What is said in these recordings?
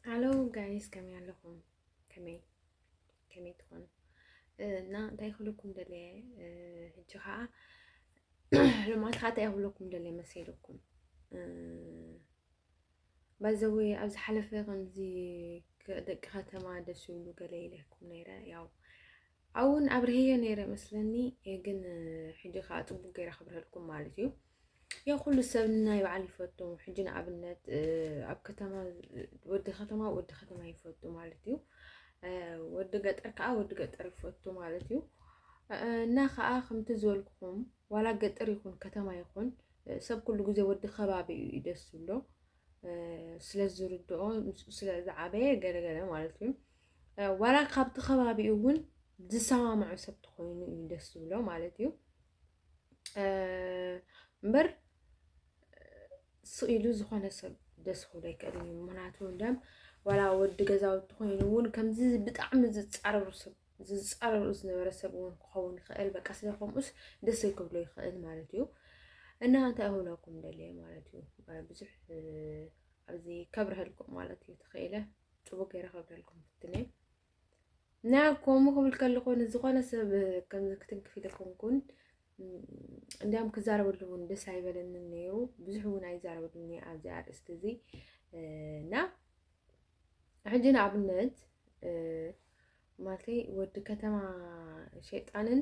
ሃሎ ጋይስ ከመይ ኣለኹም? ከመይ ከመይ ትኾኑ እና እንታይ ክብለኩም ደለየ ሕጂ ከዓ ልማት ከዓ እንታይ ክብለኩም ደለየ መሰለኩም ባዘወ ኣብ ዝሓለፈ ከምዚ ደቂ ከተማ ደስ ይብሉ ገለ ኢለኩም ነይረ ያው ኣውን ኣብርሄዮ ነይረ መስለኒ ግን ሕጂ ከኣ ጽቡቅ ገይረ ክብርሀልኩም ማለት እዩ ያው ኩሉ ሰብ ናይ በዓል ይፈቱ ሕጂ ንኣብነት ኣብ ከተማ ወዲ ከተማ ወዲ ከተማ ይፈቱ ማለት እዩ ወዲ ገጠር ከዓ ወዲ ገጠር ይፈቱ ማለት እዩ እና ከዓ ከምቲ ዝበልኩኹም ዋላ ገጠር ይኹን ከተማ ይኹን ሰብ ኩሉ ግዜ ወዲ ከባቢ እዩ ደስ ዝብሎ ስለ ዝርድኦ ምስኡ ስለ ዝዓበየ ገለገለ ማለት እዩ ዋላ ካብቲ ከባቢኡ እውን ዝሰማምዑ ሰብ ተኮይኑ እዩ ደስ ዝብሎ ማለት እዩ እምበር ስኢሉ ዝኾነ ሰብ ደስ ክብሎ ኣይክእልን እዩ ምክንያቱ ደም ዋላ ወዲ ገዛውቲ ኮይኑ እውን ከምዚ ብጣዕሚ ዝፃረሩ ሰብ ዝፃረርኡ ዝነበረ ሰብ እውን ክኸውን ይኽእል በቃ ስለ ከምኡስ ደስ ክብሎ ይኽእል ማለት እዩ እና እንታይ ክብለኩም ደልየ ማለት እዩ ብዙሕ ኣብዚ ከብረሀልኩም ማለት እዩ ተኽኢለ ፅቡቅ ገይረ ከብረሀልኩም ፍትነ እና ከምኡ ክብል ከለኹ ንዝኾነ ሰብ ከምዚ ክትንክፍ ኢልኩም ኩን እንዲያም ክዛረበሉ እውን ደስ ኣይበለንን ነይሩ ብዙሕ እውን ኣይዛረበሉን ኣብዚ ኣርእስቲ እዚ እና ሕጂ ንኣብነት ማለተይ ወዲ ከተማ ሸይጣንን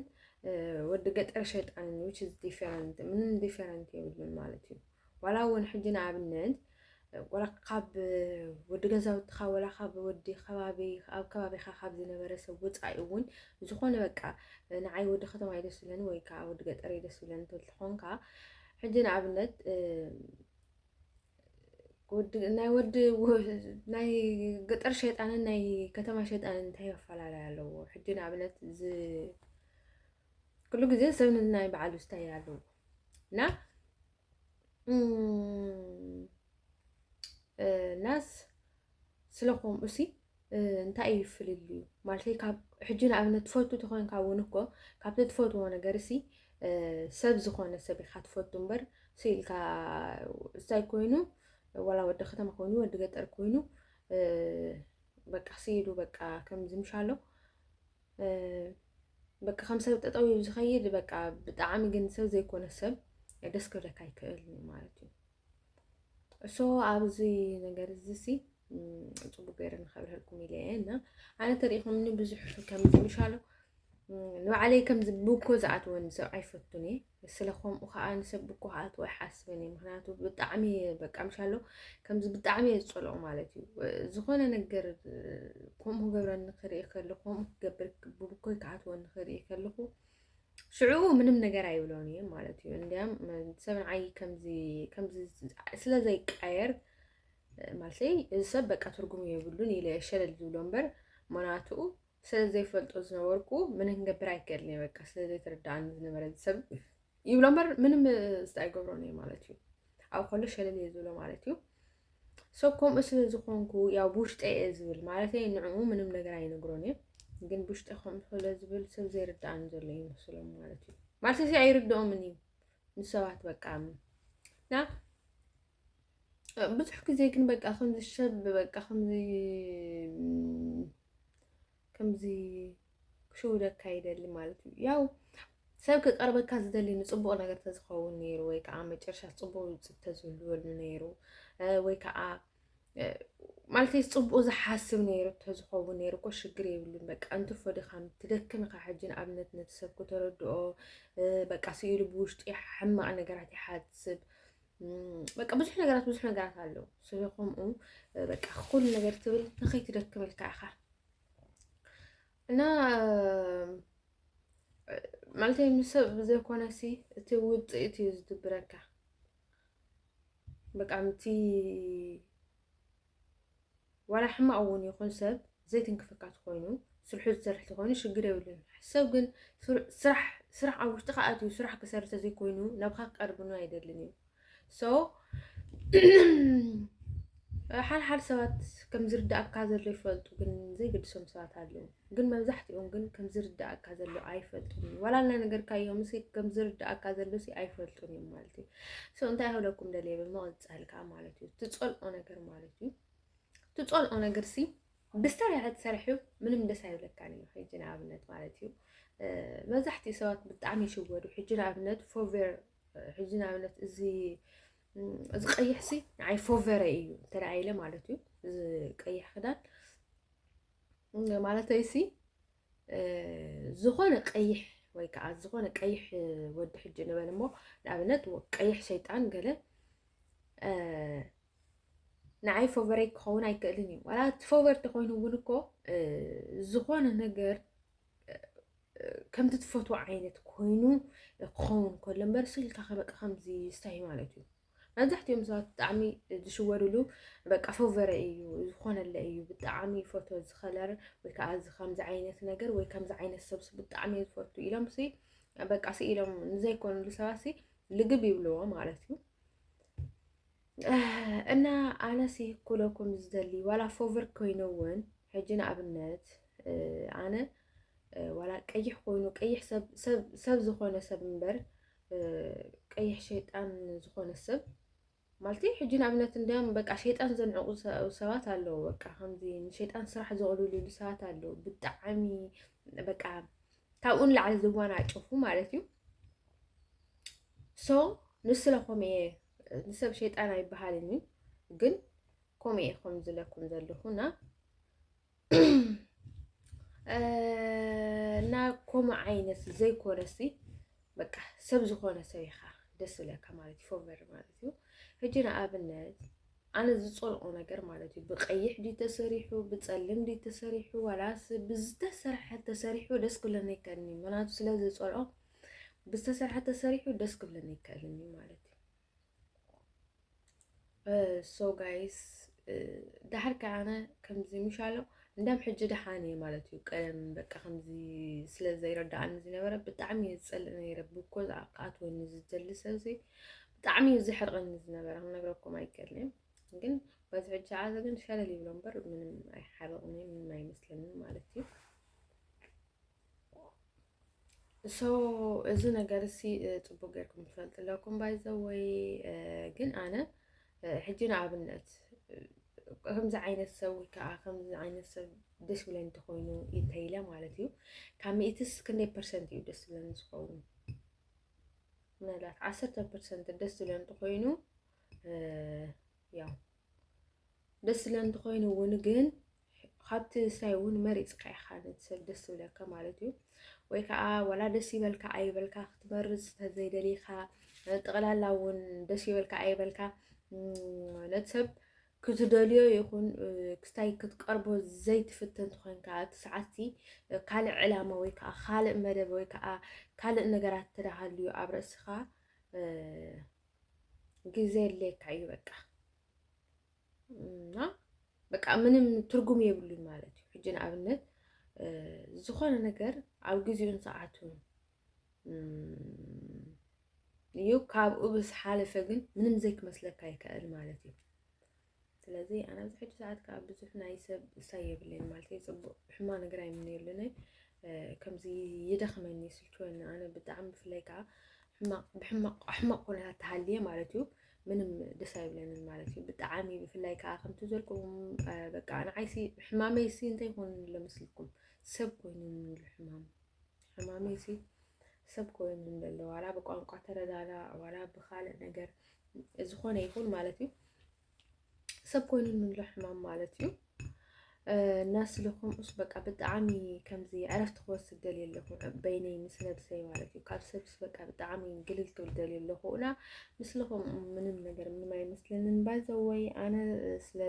ወዲ ገጠር ሸይጣንን ዊች ኢዝ ዲፈረንት ምንም ዲፈረንት የብሉን ማለት እዩ ዋላ እውን ሕጂ ንኣብነት ወላ ካብ ወዲ ገዛውትኻ ወላ ካብ ወዲ ከባቢ ኣብ ከባቢኻ ካብ ዝነበረ ሰብ ወፃኢ እውን ዝኾነ በቃ ንዓይ ወዲ ከተማ እዩ ደስ ዝብለኒ ወይ ከዓ ወዲ ገጠር እዩ ደስ ዝብለኒ ተትኾንካ ሕጂ ንኣብነት ናይ ወዲ ናይ ገጠር ሸይጣንን ናይ ከተማ ሸይጣንን እንታይ ኣፈላላይ ኣለዎ? ሕጂ ንኣብነት ኩሉ ግዜ ሰብ ናይ በዓሉ ስታይ ኣለዎ እና ናስ ስለኮምኡሲ እንታይ እዩ ፍልልዩ ማለተይ ካብ ሕጂ ንኣብነት ትፈቱ ተኮንካ እውን እኮ ካብቲ ትፈትዎ ነገር ሲ ሰብ ዝኮነ ሰብ ኢካ ትፈቱ እምበር ስኢልካ እንታይ ኮይኑ ወላ ወዲ ከተማ ኮይኑ ወዲ ገጠር ኮይኑ በቃ ስኢሉ በቃ ከምዚ ምሻሎ በቃ ከም ሰብ ጠጠው ዝኸይድ በቃ ብጣዕሚ ግን ሰብ ዘይኮነ ሰብ ደስ ክብለካ ይክእል ማለት እዩ እሶ ኣብዚ ነገር እዚሲ ፅቡቅ ገይረ ንከብርሀልኩም ኢለ እየ እና ኣነ ተሪኢኹምኒ ብዙሕ ከም ምሻሉ ንባዕለይ ከምዚ ብኮ ዝኣትወኒ ሰብ ኣይፈቱን እየ ስለ ከምኡ ከዓ ንሰብ ብኮ ክኣትወ ኣይሓስብን እየ ምክንያቱ ብጣዕሚ በቃ ምሻሎ ከምዚ ብጣዕሚ እየ ዝፀልኦ ማለት እዩ ዝኾነ ነገር ከምኡ ክገብረኒ ክርኢ ከለኹ ከምኡ ክገብር ብብኮይ ክኣትወኒ ክርኢ ከለኹ ሽዑ ምንም ነገር ኣይብሎን እዩ ማለት እዩ እንዲያም ሰብ ንዓይ ከምዚ ከምዚ ስለ ዘይቀየር ማለተይ እዚ ሰብ በቃ ትርጉም የብሉን ኢለ ሸለል ዝብሎ እምበር ምክንያቱኡ ስለ ዘይፈልጦ ዝነበርኩ ምንም ገብር ኣይክእልን እየ በቃ ስለ ዘይተረዳእኒ ዝነበረ እዚ ሰብ ይብሎ እምበር ምንም ዝታ ኣይገብሮን እዩ ማለት እዩ ኣብ ከሎ ሸለል እየ ዝብሎ ማለት እዩ ሶ ከምኡ ስለ ዝኾንኩ ያው ብውሽጠይ እየ ዝብል ማለተይ ንዕኡ ምንም ነገር ኣይነግሮን እየ ግን ብውሽጠ ከምኡ ስለ ዝብል ሰብ ዘይርድኣኒ ዘሎ ይመስሎም ማለት እዩ ማለት እዚ ኣይርድኦምን እዩ ንሰባት በቃ እና ብዙሕ ግዜ ግን በቃ ከምዚ ሰብ በቃ ከምዚ ከምዚ ክሽውደካ ይደሊ ማለት እዩ ያው ሰብ ክቀርበካ ዝደሊ ንፅቡቅ ነገር ተዝኸውን ነይሩ ወይ ከዓ መጨረሻ ፅቡቅ ውፅኢት ተዝህልወሉ ነይሩ ወይ ከዓ ማለት ፅቡቅ ዝሓስብ ነይሩ ተዝኸውን ነይሩ እኮ ሽግር የብሉን። በቃ እንትርፎ ድኻም ትደክም ኢኻ ሕጂ ንኣብነት ነቲ ሰብ ክተረድኦ በቃ ስኢሉ ብውሽጢ ሕማቅ ነገራት ይሓስብ በቃ ብዙሕ ነገራት ብዙሕ ነገራት ኣለዉ። ስለከምኡ በቃ ኩሉ ነገር ትብል ንኸይትደክም ኢልካ ኢኻ እና ማለት ምሰብ ብዘይኮነ ሲ እቲ ውፅኢት እዩ ዝድብረካ በቃ ምቲ ዋላ ሕማቅ እውን ይኹን ሰብ ዘይትንክፈካ ትኾይኑ ስርሑ ዝሰርሕ ተኾይኑ ሽግር የብሉን ሰብ ግን ስራሕ ስራሕ ኣብ ውሽጥካ ኣትዩ ስራሕ ክሰርሕ ተዘይኮይኑ ናብካ ክቀርብኑ ኣይደልን እዩ ሶ ሓልሓል ሰባት ከም ዝርዳእካ ዘሎ ይፈልጡ፣ ግን ዘይገድሶም ሰባት ኣለዉ። ግን መብዛሕትኦም ግን ከም ዝርዳእካ ዘሎ ኣይፈልጡን እዩ ዋላ እናነገርካዮም ሲ ከም ዝርዳእካ ዘሎ ሲ ኣይፈልጡን እዮም ማለት እዩ። ሶ እንታይ ክብለኩም ደልየ ብምቕጻል ከዓ ማለት እዩ ትጸልኦ ነገር ማለት እዩ ትጸልኦ ነገር ሲ ብስታይ ክትሰርሕዩ ምንም ደስ ኣይብለካን እዩ። ሕጂ ንኣብነት ማለት እዩ መብዛሕትኡ ሰባት ብጣዕሚ ይሽወዱ። ሕጂ ንኣብነት ፎቬር ሕጂ ንኣብነት እዚ እዚ ቀይሕ ሲ ንዓይ ፎቨረ እዩ እንተ ኢለ ማለት እዩ እዚ ቀይሕ ክዳን ማለተይ ሲ ዝኾነ ቀይሕ ወይ ከዓ ዝኾነ ቀይሕ ወዲ ሕጂ ንበል እሞ ንኣብነት ቀይሕ ሸይጣን ገለ ንዓይ ፎቨረይ ክኸውን ኣይክእልን እዩ ዋላ እቲ ፎቨር ተኮይኑ እውን እኮ ዝኾነ ነገር ከምቲ ትፈትዎ ዓይነት ኮይኑ ክኸውን ከሎ እምበር ስልካ ከበቃ ከምዚ ስታይ ማለት እዩ መብዛሕትኦም ሰባት ብጣዕሚ ዝሽወድሉ በቃ ፈቨረ እዩ ዝኾነለ እዩ ብጣዕሚ ፈቶ ዝኸለር ወይ ከዓ እዚ ከምዚ ዓይነት ነገር ወይ ከምዚ ዓይነት ሰብስ ብጣዕሚ እዩ ዝፈቱ ኢሎም ሲ በቃ ሲ ኢሎም ንዘይኮኑሉ ሰባት ሲ ልግብ ይብልዎ ማለት እዩ እና ኣነስ ይህኩለኩም ዝደሊ ዋላ ፎቨር ኮይኑ እውን ሕጂ ንኣብነት ኣነ ዋላ ቀይሕ ኮይኑ ቀይሕ ሰብ ዝኾነ ሰብ እምበር ቀይሕ ሸይጣን ዝኾነ ሰብ ማለት ሕጂ ንኣብነት እንዲያም በቃ ሸይጣን ዘንዕቑ ሰባት ኣለዉ። በቃ ከምዚ ንሸይጣን ስራሕ ዘቕልሉሉ ሰባት ኣለዉ። ብጣዕሚ በቃ ካብኡ ንላዕሊ ዝዋናጨፉ ማለት እዩ። ሶ ንስለኹም እየ ንሰብ ሸይጣን ኣይበሃልን እዩ ግን ከምኡ እየ ከም ዝለኩም ዘለኹ እና እና ከምኡ ዓይነት ዘይኮነሲ በቃ ሰብ ዝኾነ ሰብ ኢኻ ደስ ዝለካ ማለት እዩ ፎቨር ማለት እዩ ሕጂ ንኣብነት ኣነ ዝፀልኦ ነገር ማለት እዩ ብቀይሕ ድዩ ተሰሪሑ ብፀልም ድዩ ተሰሪሑ ዋላስ ብዝተሰርሐ ተሰሪሑ ደስ ክብለኒ ይከኒ ምክንያቱ ስለ ዝፀልኦ ብዝተሰርሐ ተሰሪሑ ደስ ክብለኒ ይከእልን እዩ ማለት እዩ ሶ ጋይስ ዳሕር ከዓነ ከምዚ ምሻሎ እንዳም ሕጂ ደሓን እየ ማለት እዩ ቀደም በቃ ከምዚ ስለ ዘይረዳእኒ ዝነበረ ብጣዕሚ እየ ዝፀልእ ነይረ ብኮ ክኣትወኒ ዝደሊ ሰብዚ ብጣዕሚ እዩ ዘሕርቐኒ ዝነበረ ክነግረኩም ኣይከልን ግን በዚ ሕጂ ዓዘ ግን ሸለል ይብሎ እምበር ምንም ኣይሓርቕኒ ምንም ኣይመስለኒ ማለት እዩ ሶ እዚ ነገር እሲ ፅቡቅ ጌርኩም ትፈልጡ ኣለኩም ባይዘወይ ግን ኣነ ሕጂ ንኣብነት ከምዚ ዓይነት ሰብ ወይ ከዓ ከምዚ ዓይነት ሰብ ደስ ብለኒ እንተኮይኑ እንተኢለ ማለት እዩ ካብ ሚእትስ ክንደይ ፐርሰንት እዩ ደስ ብለኒ ዝኸውን ምናልባት ዓሰርተ ፐርሰንት ደስ ዝብለ እንተኮይኑ ያው ደስ ዝብለ እንተኮይኑ እውን ግን ካብቲ ስራይ እውን መሪፅካ ኢኻ ነቲ ሰብ ደስ ዝብለካ ማለት እዩ ወይ ከዓ ዋላ ደስ ይበልካ ኣይበልካ ክትመርፅ ተዘይደሊኻ ጠቕላላ እውን ደስ ይበልካ ኣይበልካ ነቲ ሰብ ክዝደልዮ ይኹን ክስታይ ክትቀርቦ ዘይትፍትን ትኾንካ እቲ ሰዓትቲ ካልእ ዕላማ ወይ ከዓ ካልእ መደብ ወይ ከዓ ካልእ ነገራት ተዳሃልዩ ኣብ ርእስኻ ግዜ የድልየካ እዩ በቃ እና በቃ ምንም ትርጉም የብሉን ማለት እዩ ሕጂ ንኣብነት ዝኾነ ነገር ኣብ ግዜኡን ሰዓቱን እዩ ካብኡ ብዝሓለፈ ግን ምንም ዘይክመስለካ ይከእል ማለት እዩ ስለዚ ኣነ ኣብዚ ሕጂ ሰዓት ከዓ ብዙሕ ናይ ሰብ እሳይ የብለይን ማለት እዩ ፅቡቅ ሕማ ነገር ኣይምነየሉን ከምዚ ይደኽመኒ ይስልችወኒ ኣነ ብጣዕሚ ብፍላይ ከዓ ሕማቅ ብሕማቅ ሕማቅ ኩነታት ተሃልየ ማለት እዩ ምንም ደስ ኣይብለንን ማለት እዩ ብጣዕሚ ብፍላይ ከዓ ከምቲ ዘልኩም በቃ ንዓይሲ ሕማመይሲ እንታይ ኮይኑ ኣሎ መስልኩም ሰብ ኮይኑ ንሉ ሕማም ሕማመይሲ ሰብ ኮይኑ ዘሎ ዋላ ብቋንቋ ተረዳዳ ዋላ ብካልእ ነገር ዝኾነ ይኹን ማለት እዩ ሰብ ኮይኑ ንሎ ሕማም ማለት እዩ እና ስለኹም እሱ በቃ ብጣዕሚ ከምዚ ዕረፍቲ ክወስድ ደልየ ኣለኹ በይነይ ምስ ነብሰይ ማለት እዩ ካብ ሰብስ በቃ ብጣዕሚ ግልል ክብል ደልየ ኣለኹ እና ምስልኹም ምንም ነገር ምንም ኣይመስለንን ባይዘወይ ኣነ ስለ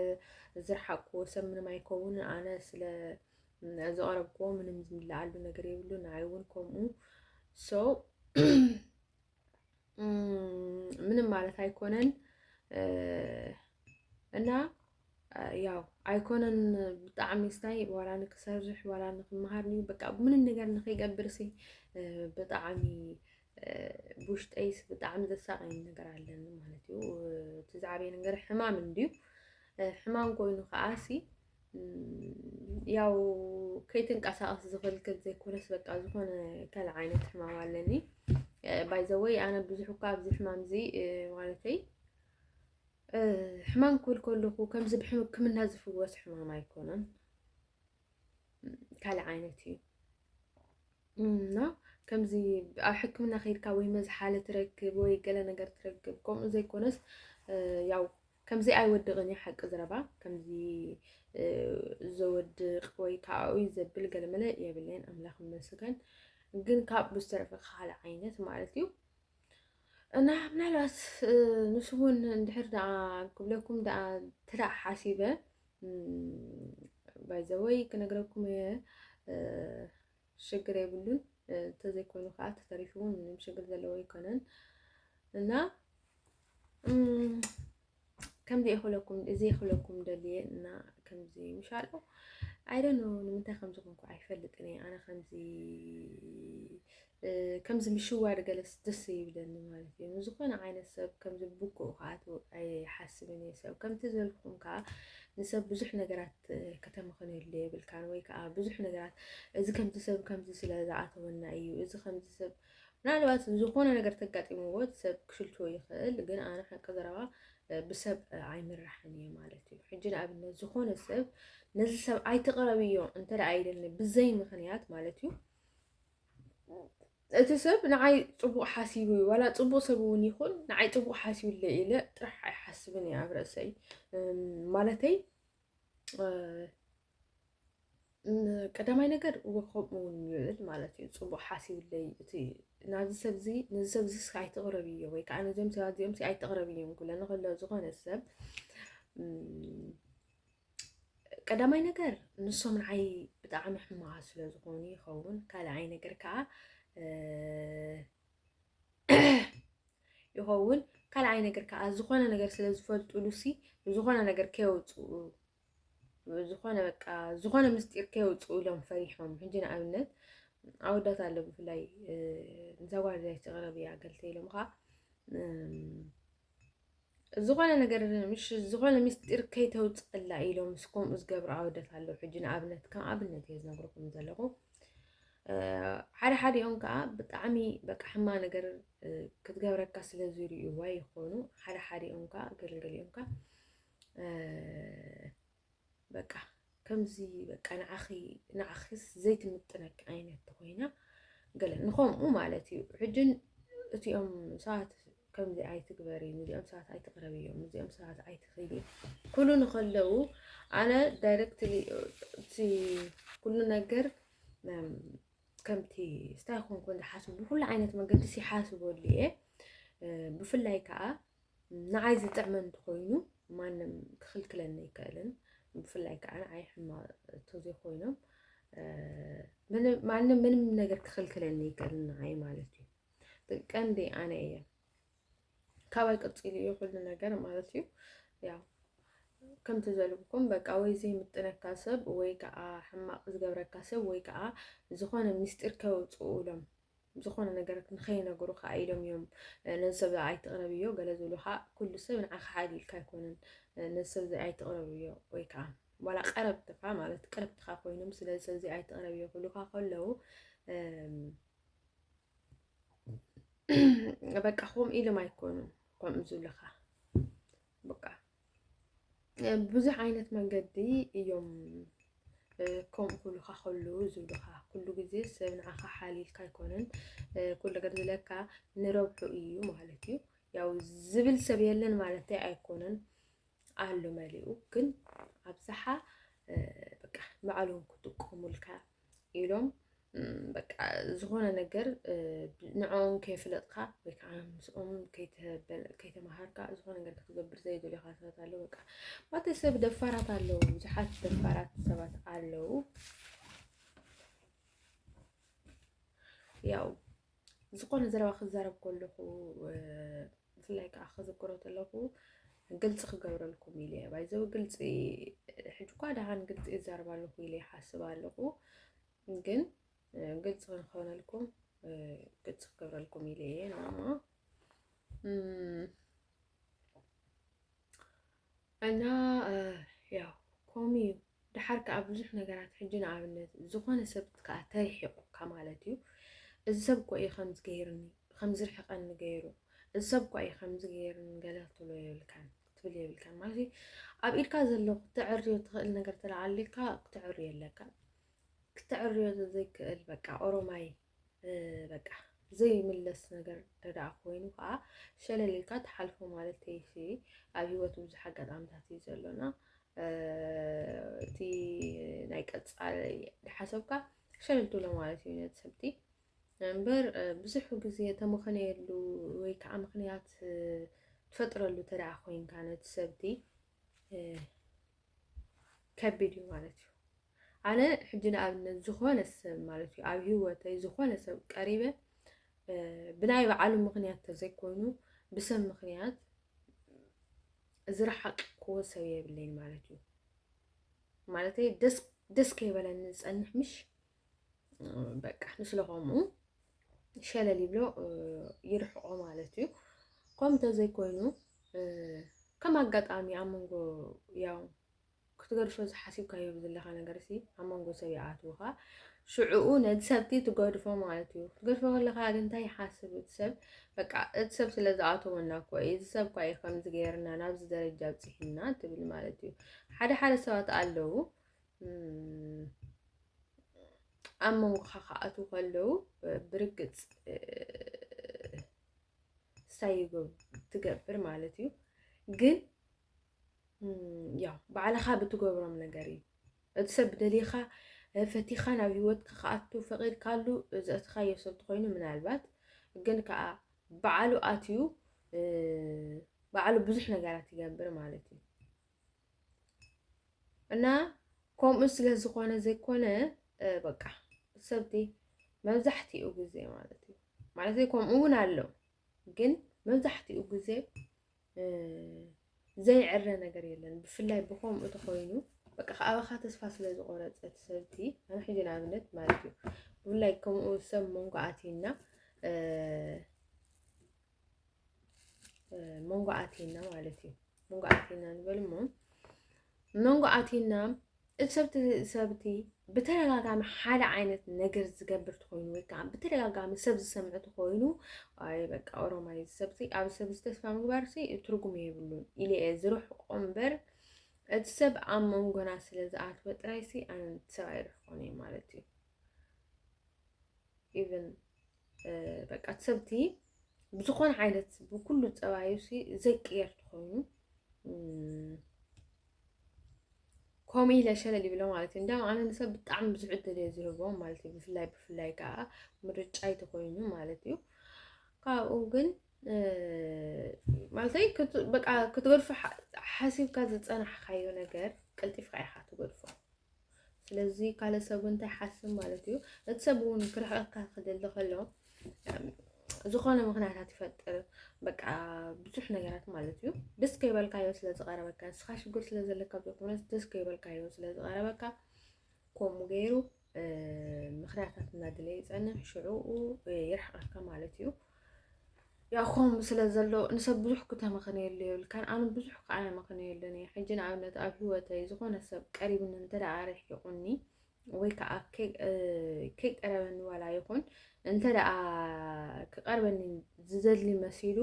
ዝረሓቅኩዎ ሰብ ምንም ኣይከውን ኣነ ስለ ዝቐረብኩዎ ምንም ዝምልኣሉ ነገር የብሉን ንዓይ እውን ከምኡ ሰው ምንም ማለት ኣይኮነን እና ያው ኣይኮነን ብጣዕሚ ስታይ ዋላ ንክሰርሕ ዋላ ንክመሃር እዩ በቃ ምንም ነገር ንከይገብር ሲ ብጣዕሚ ብውሽጠይስ ብጣዕሚ ዘሳቀኝ ነገር ኣለኒ ማለት እዩ እቲ ዝዓበየ ነገር ሕማም እንድዩ ሕማም ኮይኑ ከዓ ሲ ያው ከይትንቀሳቐስ ዝኽልክል ዘይኮነስ በቃ ዝኾነ ከል ዓይነት ሕማም ኣለኒ ባይዘወይ ኣነ ብዙሕ እኳ ኣብዚ ሕማም እዚ ማለተይ ሕማም ክብል ከለኹ ከምዚ ብሕክምና ዝፍወስ ሕማም ኣይኮነን ካልእ ዓይነት እዩ እና ከምዚ ኣብ ሕክምና ከይድካ ወይ መዝሓለ ትረክብ ወይ ገለ ነገር ትረክብ ከምኡ ዘይኮነስ ያው ከምዚ ኣይወድቕን እዩ ሓቂ ዝረባ ከምዚ ዘወድቕ ወይ ከዓኡይ ዘብል ገለመለ የብለይን ኣምላኽ ይመስገን ግን ካብ ብዝተረፈ ካልእ ዓይነት ማለት እዩ እና ምናልባት ንሱ እውን እንድሕር ደኣ ክብለኩም ደኣ ትዳእ ሓሲበ ባይዘወይ ክነግረኩም እየ ሽግር የብሉን እንተዘይኮይኑ ከዓ ተተሪፉ እውን ምንም ሽግር ዘለዎ ኣይኮነን እና ከምዚ ይኽለኩም እዚ ይኽለኩም ደልየ እና ከምዚ ምሻሎ ኣይደኖ ንምንታይ ከምዚ ኮንኩ ኣይፈልጥን እየ ኣነ ከምዚ ከምዚ ምሽዋድ ገለስ ደስ ይብለኒ ማለት እዩ ንዝኾነ ዓይነት ሰብ ከምዚ ብኩኡ ከዓ ኣይሓስብን እየ ሰብ ከምቲ ዘልኩም ከዓ ንሰብ ብዙሕ ነገራት ከተመኸንዮ ኣሎ የብልካን ወይ ከዓ ብዙሕ ነገራት እዚ ከምዚ ሰብ ከምዚ ስለ ዝኣተወና እዩ እዚ ከምዚ ሰብ ምናልባት ዝኾነ ነገር ተጋጢምዎ እቲ ሰብ ክሽልትዎ ይኽእል ግን ኣነ ሓቂ ዘረባ ብሰብ ኣይምራሕን እየ ማለት እዩ ሕጂ ንኣብነት ዝኾነ ሰብ ነዚ ሰብ ኣይትቕረብዮ እንተ ደኣ ኢለኒ ብዘይ ምኽንያት ማለት እዩ እቲ ሰብ ንዓይ ፅቡቅ ሓሲቡ እዩ ዋላ ፅቡቅ ሰብ እውን ይኹን ንዓይ ፅቡቅ ሓሲቡለ ኢለ ጥራሕ ኣይሓስብን እየ ኣብ ርእሰይ ማለተይ ቀዳማይ ነገር ከምኡ እውን ይብል ማለት እዩ ፅቡቅ ሓሲብለይ እቲ ናዚ ሰብ እዚ ነዚ ሰብ እዚ ኣይትቕረብ እዮ ወይ ከዓ ነዚኦም ሰባት እዚኦም ኣይትቕረብ እዮም ክብለኒ ከሎ ዝኾነ ሰብ ቀዳማይ ነገር ንሶም ንዓይ ብጣዕሚ ሕማቓት ስለ ዝኾኑ ይኸውን ካልኣይ ነገር ከዓ ይኸውን ካልኣይ ነገር ከዓ ዝኾነ ነገር ስለ ዝፈልጡሉሲ ዝኾነ ነገር ከየውፅኡ ዝኾነ በቃ ዝኾነ ምስጢር ከየውፅኡ ኢሎም ፈሪሖም ሕጂ ንኣብነት ኣወዳት ኣሎ ብፍላይ ንዛ ጓል እዚኣ ዝተቐረብያ ገልተ ኢሎም ከዓ ዝኾነ ነገር ምሽ ዝኾነ ምስጢር ከይተውፅኣላ ኢሎም ምስ ከምኡ ዝገብሩ ኣወዳት ኣለዉ ሕጂ ንኣብነት ከም ኣብነት እየ ዝነግረኩም ዘለኹ ሓደ ሓዲኦም ከዓ ብጣዕሚ በቃ ሕማ ነገር ክትገብረካ ስለ ዝርእዩዋ ይኾኑ ሓደ ሓዲኦም ከዓ ገለገሊኦም ከዓ በቃ ከምዚ በቃ ንዓኺ ንዓኺስ ዘይትምጥነኪ ዓይነት ተኾይና ገለ ንኸምኡ ማለት እዩ ሕጅን እቲኦም ሰባት ከምዚ ኣይትግበሪ ንዚኦም ሰባት ኣይትቕረቢ እዮም ንዚኦም ሰባት ኣይትኽይዲ ኩሉ ንከለዉ ኣነ ዳይረክት እቲ ኩሉ ነገር ከምቲ ስታይ ኮንኮን ዝሓስቡ ብኩሉ ዓይነት መንገዲ ሲሓስበሉ እየ ብፍላይ ከዓ ንዓይ ዝጥዕመ እንተኾይኑ ማንም ክኽልክለኒ ኣይክእልን። ብፍላይ ከዓ ንዓይ ሕማቕ እንተዘይኮይኖም ማንም ምንም ነገር ክኽልክለኒ ኣይክእልን ንዓይ ማለት እዩ። ቀንዲ ኣነ እየ ካባይ ቀፂሉ እዩ ኩሉ ነገር ማለት እዩ። ያው ከምቲ ዘልብኩም በቃ ወይ ዘይምጥነካ ሰብ ወይ ከዓ ሕማቕ ዝገብረካ ሰብ ወይ ከዓ ዝኾነ ምስጢር ከውፅኡ ኢሎም ዝኾነ ነገር ንኸይነገሩ ከዓ ኢሎም እዮም ነዚ ሰብ ኣይትቕረብዮ ገለ ዝብሉ ከዓ ኩሉ ሰብ ንዓኻ ሓዲ ኢልካ ኣይኮነን ነዚ ሰብ እዚ ኣይትቕረብዮ ወይ ከዓ ዋላ ቀረብትኻ ማለት ቅርብትኻ ኮይኖም ስለዚ ሰብ እዚ ኣይትቕረብዮ ክብሉካ ከለዉ በቃ ከምኡ ኢሎም ኣይኮኑን ከምኡ ዝብልኻ በቃ ብዙሕ ዓይነት መንገዲ እዮም ከምኡ ክብሉካ ከሉ ዝብሉካ ኩሉ ግዜ ሰብ ንዓኻ ሓልዩልካ ኣይኮነን ኩሉ ነገር ዝለካ ንረብሑ እዩ ማለት እዩ። ያው ዝብል ሰብ የለን ማለት ኣይኮነን ኣሎ መሊኡ ግን ኣብዝሓ በቃ ባዕሎም ክጥቀሙልካ ኢሎም በቃ ዝኾነ ነገር ንዕኦም ከይፍለጥካ ወይ ከዓ ምስኦም ከይተምሃርካ ዝኾነ ነገር ክትገብር ዘይደልኻ ሰባት ኣለዉ። በቃ ባቲ ሰብ ደፋራት ኣለዉ፣ ብዙሓት ደፋራት ሰባት ኣለዉ። ያው ዝኾነ ዘረባ ክዛረብ ከለኹ ብፍላይ ከዓ ክዝክሮ ከለኹ ግልፂ ክገብረልኩም ኢለ እየ ባይዘው ግልፂ ሕጂ እኳ ደሃን ግልፂ ይዛረብ ኣለኹ ኢለ ይሓስብ ኣለኹ ግን ግልፂ ክንከውነልኩም ግልፂ ክገብረልኩም ኢለ እየ ናማ እና ያው ከምኡ እዩ ድሓር ከዓ ብዙሕ ነገራት ሕጂ ንኣብነት ዝኾነ ሰብ ከዓ ተሪሒቑካ ማለት እዩ እዚ ሰብ እኮ እዩ ከምዚ ገይርኒ ከምዚ ርሕቐኒ ገይሩ እዚ ሰብ እኳ እዩ ከምዚ ገይርኒ ገለ ክትብሎ የብልካን ክትብል የብልካን ማለት እዩ ኣብ ኢድካ ዘሎ ክተዕርዮ ትኽእል ነገር ተለዓሊልካ ክተዕርዮ ኣለካ ክተዕርዮ ዘይክእል በቃ ኦሮማይ በቃ ዘይምለስ ነገር እንተደኣ ኮይኑ ከዓ ሸለል ኢልካ ትሓልፎ ማለት እሺ ኣብ ሂወት ብዙሕ ኣጋጣሚታት እዩ ዘሎና እቲ ናይ ቀፃሊ ሓሰብካ ሸለል ትብሎ ማለት እዩ ነቲ ሰብቲ እምበር ብዙሕ ግዜ ተመኸነየሉ ወይ ከዓ ምክንያት ትፈጥረሉ እንተደኣ ኮይንካ ነቲ ሰብቲ ከቢድ እዩ ማለት እዩ ኣነ ሕጂ ንኣብነት ዝኾነ ሰብ ማለት እዩ ኣብ ሂወተይ ዝኾነ ሰብ ቀሪበ ብናይ በዓሉ ምክንያት ተዘይኮይኑ ብሰብ ምክንያት ዝረሓቅ ክዎ ሰብ የብለይን ማለት እዩ ማለተይ ደስ ከይበለኒ ዝፀንሕ ምሽ በቃ ንስለ ከምኡ ሸለል ይብሎ ይርሕቆ ማለት እዩ ከም ተዘይኮይኑ ከም ኣጋጣሚ ኣብ መንጎ ያው ክትገድፎ ዝሓሲብካዮ ዘለካ ነገር ሲ ኣብ መንጎ ሰብ ይኣትውካ ሽዕኡ ነቲ ሰብቲ ትገድፎ ማለት እዩ ክትገድፎ ከለካ ግን እንታይ ይሓስብ እቲ ሰብ በቃ እቲ ሰብ ስለ ዝኣተወና እኮ እዩ እዚ ሰብ እኳ እዩ ከምዚ ገይርና ናብዚ ደረጃ ኣብፅሒና ትብል ማለት እዩ ሓደ ሓደ ሰባት ኣለዉ ኣብ መንጎኻ ክኣትዉ ከለዉ ብርግፅ ሳይ ትገብር ማለት እዩ። ግን ያው ባዕልኻ ብትገብሮም ነገር እዩ እቲ ሰብ ደሊኻ ፈቲኻ ናብ ሂወትካ ክኣቱ ፈቒድካሉ ዘእትኻዮ ሰብ ትኾይኑ ምናልባት ግን ከዓ ባዕሉ ኣትዩ ባዕሉ ብዙሕ ነገራት ይገብር ማለት እዩ። እና ከምኡ ስለ ዝኾነ ዘይኮነ በቃ ሰብቲ መብዛሕትኡ ግዜ ማለት እዩ ማለት ከምኡ እውን ኣሎ ግን መብዛሕትኡ ግዜ ዘይዕረ ነገር የለን ብፍላይ ብከምኡ ተኮይኑ በቃ ከኣባኻ ተስፋ ስለ ዝቆረፀት ሰብቲ ኣነ ሕጂ ንኣብነት ማለት እዩ ብፍላይ ከምኡ ሰብ መንጎ ኣትዩና መንጎ ኣቲና ማለት እዩ መንጎ ኣቲና ንበል እሞ መንጎ ኣቲና እቲ ሰብቲ ሰብቲ ብተደጋጋሚ ሓደ ዓይነት ነገር ዝገብር ትኮይኑ ወይ ከዓ ብተደጋጋሚ ሰብ ዝሰምዕ ትኮይኑ ኣይ በቃ ኦሮማይ ሰብቲ ኣብ ሰብ ዝተስፋ ምግባር ሲ ትርጉም የብሉን ኢለ እየ ዝርሕቆ እምበር እቲ ሰብ ኣብ መንጎና ስለ ዝኣትወ ጥራይ ሲ ኣነ ሰብ ኣይርሕቆን እየ ማለት እዩ ኢቨን በቃ እቲ ሰብቲ ብዝኾነ ዓይነት ብኩሉ ፀባዩ ዘይቅየር ትኾይኑ ከምኡ ኢለ ሸለል ይብሎ ማለት እዩ እንዲያውም ኣነ ንሰብ ብጣዕሚ ብዙሕ ዕድል እየ ዝህቦ ማለት እዩ ብፍላይ ብፍላይ ከዓ ምርጫይ ተኮይኑ ማለት እዩ ካብኡ ግን ማለተይ በቃ ክትገድፎ ሓሲብካ ዝፀናሕካዮ ነገር ቀልጢፍካ ኢኻ ትገድፎ ስለዚ ካልእ ሰብ እውን እንታይ ይሓስብ ማለት እዩ እቲ ሰብ እውን ክርሕቀካ ክደሊ ከሎ ዝኾነ ምክንያታት ይፈጥር በቃ ብዙሕ ነገራት ማለት እዩ ደስ ከይበልካዮ ስለ ዝቐረበካ ንስኻ ሽግር ስለ ዘለካ ዘይኮነስ ደስ ከይበልካዮ ስለ ዝቐረበካ ከምኡ ገይሩ ምክንያታት እናድለ ይፀንሕ ሽዑኡ ይርሕቀካ ማለት እዩ ያው ከምኡ ስለ ዘሎ ንሰብ ብዙሕ ክተመኽንየሉ የብልካን ኣነ ብዙሕ ከዓ የመኽንየሉን እየ ሕጂ ንኣብነት ኣብ ሂወተይ ዝኾነ ሰብ ቀሪብኒ እንተ ደኣ ኣርሒቑኒ ወይ ከዓ ከይቀረበኒ ዋላ ይኹን እንተ ደኣ ክቐርበኒ ዝደሊ መሲሉ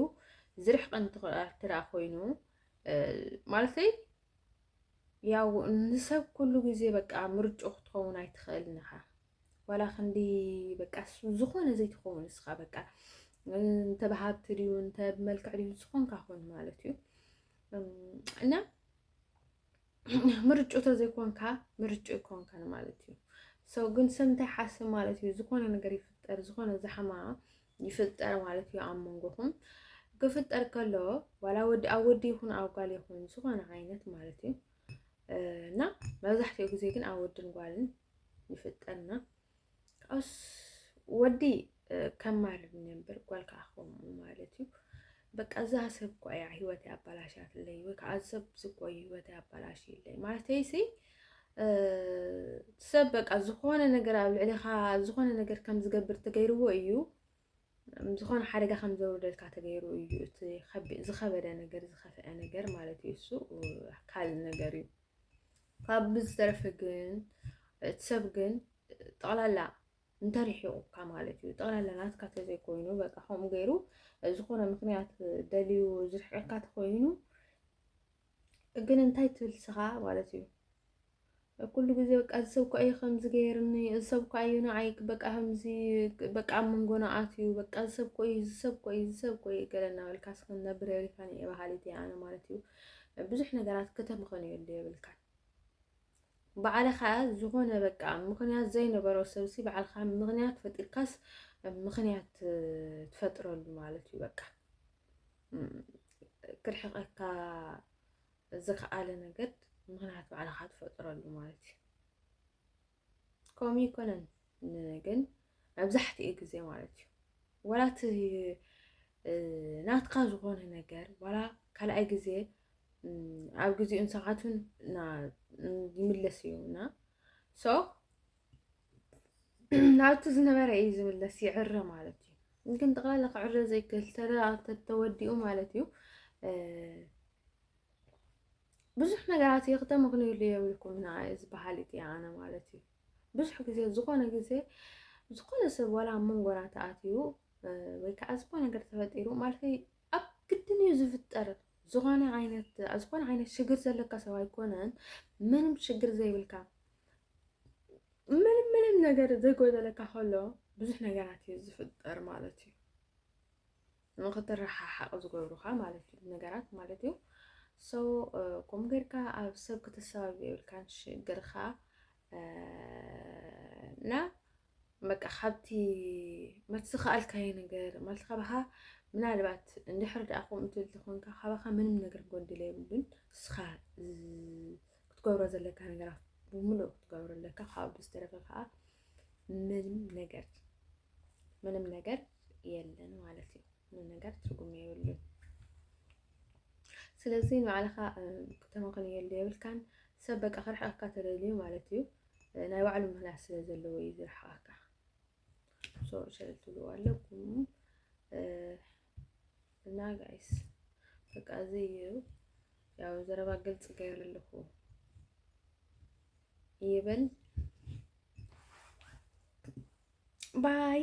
ዝርሕቐኒ እንተ ደኣ ኮይኑ ማለተይ ያው ንሰብ ኩሉ ግዜ በቃ ምርጭኡ ክትኸውን ኣይትኽእልን ኢኻ ዋላ ክንዲ በቃ ዝኾነ ዘይትኸውን እስኻ በቃ እንተ ብሃብቲ ድዩ እንተ ብመልክዕ ድዩ ዝኾንካ ኮን ማለት እዩ እና ምርጩ ተዘይኮንካ ምርጩ ይኮንካን ማለት እዩ ሰው ግን ሰብ እንታይ ሓስብ ማለት እዩ ዝኾነ ነገር ይፍጠር ዝኾነ ዛሕማ ይፍጠር ማለት እዩ ኣብ መንጎኹም ክፍጠር ከሎ ዋላ ወዲ ኣብ ወዲ ይኹን ኣብ ጓል ይኹን ዝኾነ ዓይነት ማለት እዩ እና መብዛሕትኡ ግዜ ግን ኣብ ወድን ጓልን ይፍጠና ካብኡስ ወዲ ከም ማር ነበር ጓል ከዓ ከምኡ ማለት እዩ በቃ እዛ ሰብ እኳ እያ ሂወተይ ኣባላሽያትለይ ወይ ከዓ ሰብ ዝኮ ሂወተይ ኣባላሽይለይ ማለተይ ሲ ሰብ በቃ ዝኾነ ነገር ኣብ ልዕሊኻ ዝኾነ ነገር ከም ዝገብር ተገይርዎ እዩ ዝኾነ ሓደጋ ከም ዘውርደልካ ተገይሩ እዩ እቲ ዝኸበደ ነገር ዝኸፍአ ነገር ማለት እዩ። እሱ ካል ነገር እዩ። ካብ ብዝተረፈ ግን እቲ ሰብ ግን ጠቕላላ እንተሪሒቑካ ማለት እዩ ጠቕላላ ናትካ ተዘይኮይኑ በቃ ከምኡ ገይሩ ዝኾነ ምክንያት ደልዩ ዝርሕቀካ ተኮይኑ ግን እንታይ ትብል ስኻ ማለት እዩ ኩሉ ግዜ በቃ እዚ ሰብ እኳ እዩ ከምዚ ገይርኒ፣ እዚ ሰብ እኳ እዩ ንዓይ በቃ ከምዚ በቃ ኣብ መንጎና ኣትዩ፣ በቃ እዚ ሰብ እኮ እዩ፣ እዚ ሰብ እኮ እዩ፣ እዚ ሰብ እኮ እዩ ገለ እናበልካ ክትነብር የብልካን እየ በሃሊት እየ ኣነ ማለት እዩ። ብዙሕ ነገራት ከተምኽንየሉ የብልካን። ባዕልኻ ዝኾነ በቃ ምኽንያት ዘይነበሮ ሰብሲ ባዕልኻ ምኽንያት ፈጢርካስ ምኽንያት ትፈጥረሉ ማለት እዩ። በቃ ክርሕቀካ ዝከኣለ ነገር ምክንያት ባዕልኻ ትፈጥረሉ ማለት እዩ ከምኡ ይኮነን ግን መብዛሕትኡ ግዜ ማለት እዩ ወላ እቲ ናትካ ዝኾነ ነገር ዋላ ካልኣይ ግዜ ኣብ ግዜኡን ሰዓቱን ይምለስ እዩ እና ሶ ናብቲ ዝነበረ እዩ ዝምለስ ይዕረ ማለት እዩ ግን ጠቕላላ ክዕረ ዘይክእል ተወዲኡ ማለት እዩ ብዙሕ ነገራት እየ ክተመክንዩሉ የብልኩም ና እዚ በሃል እቲ ኣነ ማለት እዩ ብዙሕ ግዜ ዝኾነ ግዜ ዝኾነ ሰብ ዋላ ኣብ መንጎና ተኣትዩ ወይ ከዓ ዝኾነ ነገር ተፈጢሩ ማለት ኣብ ግድን እዩ ዝፍጠር ዝኾነ ዓይነት ዝኾነ ዓይነት ሽግር ዘለካ ሰብ ኣይኮነን ምንም ሽግር ዘይብልካ ምንም ምንም ነገር ዘይጎደለካ ከሎ ብዙሕ ነገራት እዩ ዝፍጠር ማለት እዩ ንክትረሓሓቕ ዝገብሩካ ማለት እዩ ነገራት ማለት እዩ ሶ ከምኡ ጌርካ ኣብ ሰብ ክትሰባብ የብልካን ሽግርካ እና በቃ ካብቲ ማለት ዝኸኣልካዮ ነገር ማለት ካባኻ ምናልባት እንድሕር ደኣ ከምኡ ትብል ተኾንካ ካባኻ ምንም ነገር ጎድለ የብሉን ንስኻ ክትገብሮ ዘለካ ነገራት ብምሉእ ክትገብሮ ኣለካ ካብኡ ብዝተረፈ ከዓ ምንም ነገር ምንም ነገር የለን ማለት እዩ ምንም ነገር ትርጉም የብሉን ስለዚ ንባዕልኻ ከተመኽንየሉ የብልካን ሰብ በቃ ክርሕቀካ ተደልዩ ማለት እዩ ናይ ባዕሉ ምክንያት ስለ ዘለዎ እዩ ዝርሕቐካ ሶሪ ስለ ትብልዎ ኣለኩም እና ጋይስ በቃ እዚ እዩ ያው ዘረባ ግልጽ ገይረ ኣለኹ ይበል ባይ